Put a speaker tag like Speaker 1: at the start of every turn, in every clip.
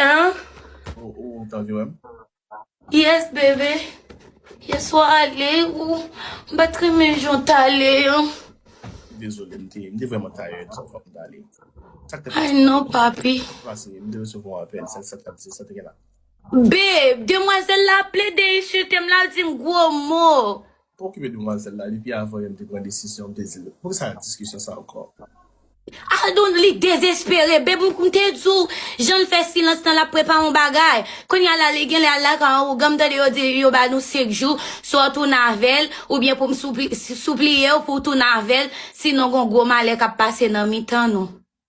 Speaker 1: Hein? Ou,
Speaker 2: ou ta vle wèm? Yes,
Speaker 1: bébé. Yes, ou ale ou m pa tre men jan w tale an.
Speaker 2: Dezole, m te, m te vreman tayèd, sa fòk m tale. Sak te pase? Ay
Speaker 1: non, papi. Pase, m te resevwa yon
Speaker 2: apèl, sa, sa, sa, sa te gen la. Babe,
Speaker 1: demwazèl la plede ensilte m, l ap di m gwo mo. Pa okipe demwazel
Speaker 2: la depi avan yom te pran desizyon m te dil poukisa diskisyon sa anko. Aldon
Speaker 1: li dezespere bebou m te di w janl fè silans lan lap prepare yon bagay kounya la li genlè al lakay yon ougan m tande yo di yo ba nou 5 jou swa w tounen avèl oubyen pou m soupliye w pou w tounen avèl sinon gon gwo malè kap pase nan mitan nou.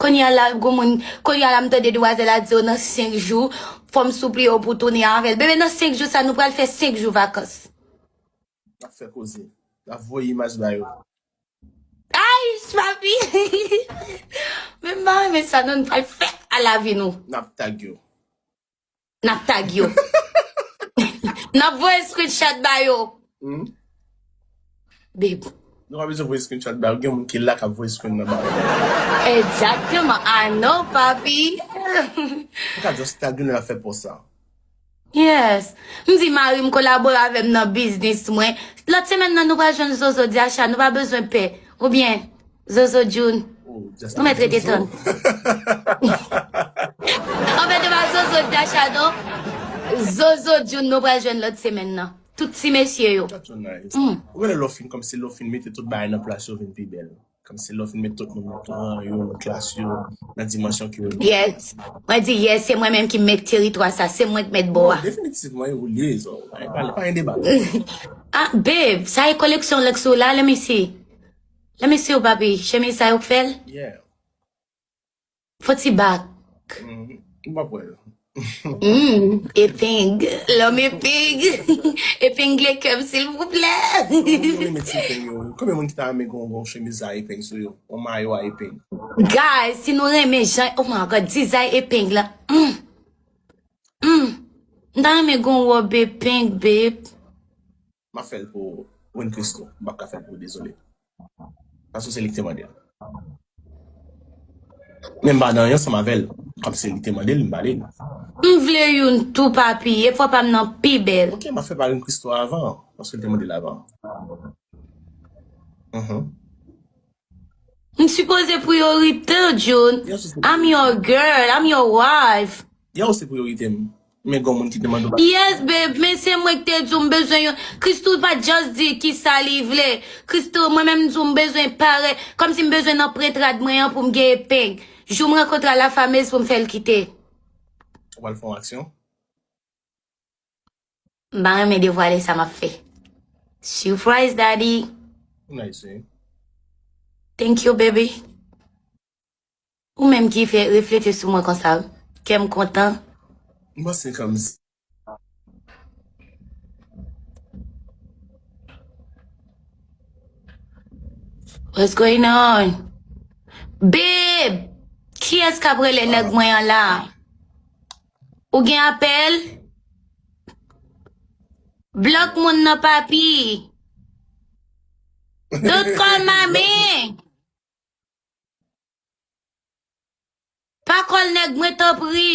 Speaker 1: Konnya la gou moun konnya la m tande demwazèl la di yo nan 5 jou fòm souple yo pou tounen avèl bebe nan 5 jou sa nou pral fè 5 jou vakans.
Speaker 2: Lap fè koze. Lap voye imaj ba yo.
Speaker 1: Aayy papi Men m pa renmen sa non nou pral fè a lavi nou. Nap tag yo.
Speaker 2: Nap
Speaker 1: tag yo. Nap voye screenshot ba yo. Hmm? Bib. Nou pa bezwen voye
Speaker 2: screenshot ba yo. Gen moun ki la kap voye screenshot ba yo. Exactement.
Speaker 1: I know, papi.
Speaker 2: Ou ka just tag yo lè nap fè post la. Yes.
Speaker 1: M di mari m kolabore avè m nan biznis mwen. Lòt semèn nan nou pral jwenn Zozo Diacha. Nou pa bezwen pè. Oubyen. Zozo Djoun. Nou met rete tann. Anfen de pa Zozo Dacha non. Zozo Djoun nou pral jwenn lòt semèn nan. Tout ti mesye yo. That's so nice.
Speaker 2: Ou konnen lè w fin kòmsi lè w fin mete tout bagay nan plas yo vin pi bèl. Kòmsi lè w fin met tout moun nan ton rang yo, nan klas yo, nan dimansyon ke yo ye. Yes. Mwen di
Speaker 1: yes, se mwen menm ki mèt teritwa sa, se mwen ki mèt bò a. Definitivman e ou l ye
Speaker 2: Zo. Pa gen deba. Ah
Speaker 1: babe, sa e koleksyon lèks ou la, let me see. Lè mesye yo papi, chemiz sa yo k fèl?
Speaker 2: Yeah.
Speaker 1: Fo ti bak. Ou
Speaker 2: pap wè yo. Hum,
Speaker 1: epeng. Lòm epeng. Epengle kèm silvouplè. Mwen met ti peng yo. Konbyen moun
Speaker 2: ki ta renmen gon gon chemiz a epeng sou yo? Yon mayo a epeng. Guys, si
Speaker 1: nou renmen jan, oh my God, dizay epeng la. Hum. Hum. M ta renmen gon wòb epeng, babe. Map
Speaker 2: fel pou Win Christo. M pap ka fel pou ou dezole. Paske se li ki te mande l. Men m pa nan yon sam avel. Kom se li te mande l m bali l. M vle youn
Speaker 1: tou papi. E fwa pam nan pi bel. Ok map fel pa Win Christo
Speaker 2: avan. Paske li te mande l avan. Uhmm.
Speaker 1: M sipoze priorite w June. I'm your girl, I'm your wife. Ya ou se priorite
Speaker 2: m. Men gon moun ki te mande w bagay. Yes babe, men
Speaker 1: se mwen ki te di w m bezwen yon. Christoo pa just di kisa li vle. Christoo, mwen menm m di w m bezwen pare. Kòmsi m bezwen nan prent rad mwen an pou m gen epeng. Jou m rankontre a la fameuse pou m fè l kite.
Speaker 2: Ou pral fè yon aksyon?
Speaker 1: M pa renmen devwale sa m ap fè. Surprise Daddy! Ou nice wi. Thank you baby! Ou menm ki fè reflete sou mwen konsa wi. Kè m kontan. M panse
Speaker 2: kè m zen.
Speaker 1: What's going on? Babe! Kiyès k ap rele nèg mwen an la? Ou gen apèl? Blok moun nan papi. Don't call my man. Pa kòl nèg mwen tanpri.